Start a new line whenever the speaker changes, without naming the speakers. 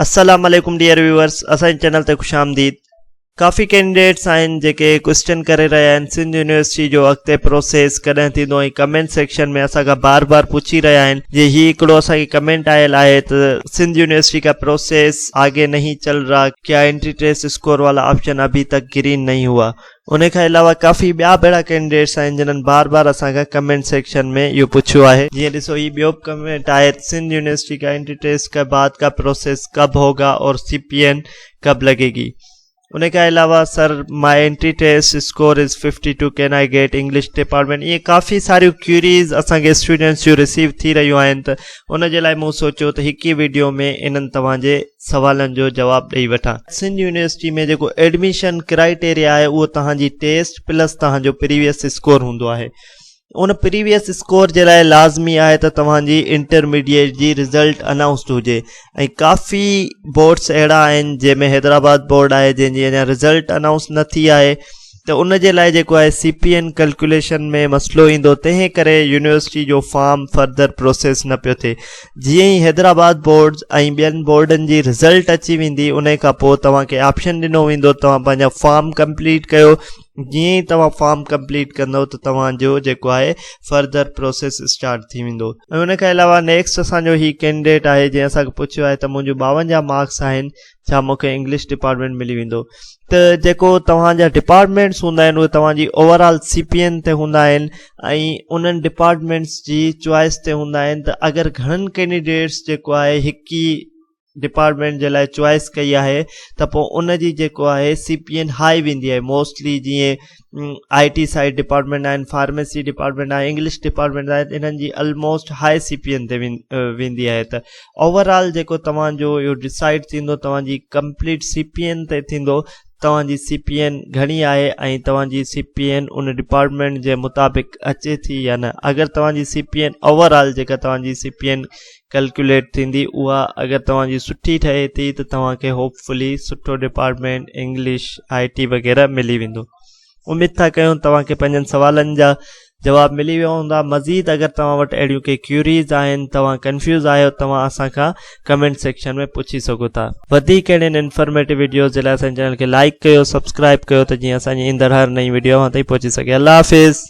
السلام عليڪم dear viewers اسان جي چينل تي خوش آمديد ڪافي ڪينڊيڊيٽس آهن جيڪي ڪوشچن ڪري رهيا آهن سنڌ يونيورسٽي جو اڳتي پروسيس ڪڏهن ٿيندو ۽ ڪمينٽ سيڪشن ۾ اسان کان بار بار پڇي رهيا آهن جي هي هڪڙو اسان کي ڪمينٽ آيل آهي ته سنڌ يونيورسٽي کا پروسيس آگي نهي چل رها کيا انٽري ٽيسٽ اسڪور والا آپشن ابهي تڪ گرين نهي هوا ان کان علاوه ڪافي ٻيا بهڙا ڪينڊيڊيٽس آهن جنھن بار بار اسان کان ڪمينٽ سيڪشن ۾ اهو پڇيو آهي. جيئن ڏسو هي ٻيو به ڪمينٽ آهي ته سنڌ يونيورسٽي ڪا انٽري ٽيسٽ ڪا بعد ڪا پروسيس ڪب هوگا اور سي پي اين ڪب لڳي گي ان کان علاوه sir my entry test score is fifty two can I get English department ائين ڪافي ساريون ڪيوريز اسان کي اسٽوڊنٽس جون رسيو ٿي رهيون آهن ته ان جي لاء مون سوچيو ته هڪ ئي وڊيو ۾ انھن توهان جي سوالن جو جواب ڏئي وٺان. سنڌ يونيورسٽي ۾ جيڪو ايڊميشن ڪرائيٽيريا آهي اهو توهان جي ٽيسٽ پلس توهان جو پريويس اسڪور هوندو آهي ان پريويس اسڪور جي لاء لازمي آهي ته توهان جي انٽرميڊيٽ جي رزلٽ انائونسڊ هجي ۽ ڪافي بورڊس اهڙا آهن جنهن ۾ حيدرآباد بورڊ آهي جنهن جي اڃا رزلٽ انائونس نه ٿي آهي ته ان جي لاء جيڪو آهي سي پي اين ڪلڪيوليشن ۾ مسئلو ايندو تنهن ڪري يونيورسٽي جو فارم فردر پروسيس نه پيو ٿئي جيئن ئي حيدرآباد بورڊز ۽ ٻين بورڊن جي رزلٽ اچي ويندي ان کان پوء توهان کي آپشن ڏنو ويندو توهان پنهنجا فارم ڪمپليٽ ڪيو جيئن ئي توهان فارم ڪمپليٽ ڪندو ته توهان جو جيڪو آهي فردر پروسيس اسٽارٽ ٿي ويندو ۽ ان کان علاوه نيڪسٽ اسان جو هي ڪينڊيڊيٽ آهي جنهن اسان کي پڇيو آهي ته منهنجو ٻاونجاهه مارڪس آهن ڇا مون کي انگلش ڊپارٽمينٽ ملي ويندو ته جيڪو توهان جا ڊپارٽمينٽس هوندا آهن اهي توهان جي overall C P N تي هوندا آهن ۽ انهن ڊپارٽمينٽس جي چوائس تي هوندا آهن ته اگر گهڻن ڪينڊيڊيٽس جيڪو آهي هڪ ئي ڊپارٽمينٽ جي لاء چوائس ڪئي آهي ته پوء ان جي جيڪو آهي سي پي اين هائي ويندي آهي موسٽلي جيئن آء ٽي سائيڊ ڊپارٽمينٽ آهن فارميسي ڊپارٽمينٽ آهي انگلش ڊپارٽمينٽ آهي انهن جي almost high C P N تي ويندي آهي ته اوور آل جيڪو توهانجو اهو ڊسائڊ ٿيندو توهانجي ڪمپليٽ سي پي اين تي ٿيندو توهانجي سي پي اين گهڻي آهي ۽ توهانجي سي پي اين ان ڊپارٽمينٽ جي مطابق اچي ٿي يا نه اگر توهانجي C P N overall جيڪا توهانجي سي پي اين ڪلڪيوليٽ ٿيندي اها اگر توهان جي سٺي ٺهي ٿي ته توهان کي هوپ فلي سٺو ڊپارٽمينٽ انگلش آئي ٽي وغيره ملي ويندو اميد ٿا ڪيون توهان کي پنهنجن سوالن جا جواب ملي ويا هوندا مزيد اگر توهان وٽ اهڙيون ڪي ڪيوريز آهن توهان ڪنفيوز آهيو توهان اسان کان ڪمينٽ سيڪشن ۾ پڇي سگهو ٿا وڌيڪ اهڙين انفارميٽو ويڊيوز جي لاء اسان جي چينل کي لائڪ ڪيو سبسڪرائب ڪيو ته جيئن اسان جي ايندڙ هر نئين ويڊيو اوهان تائين پهچي سگهي الله حافظ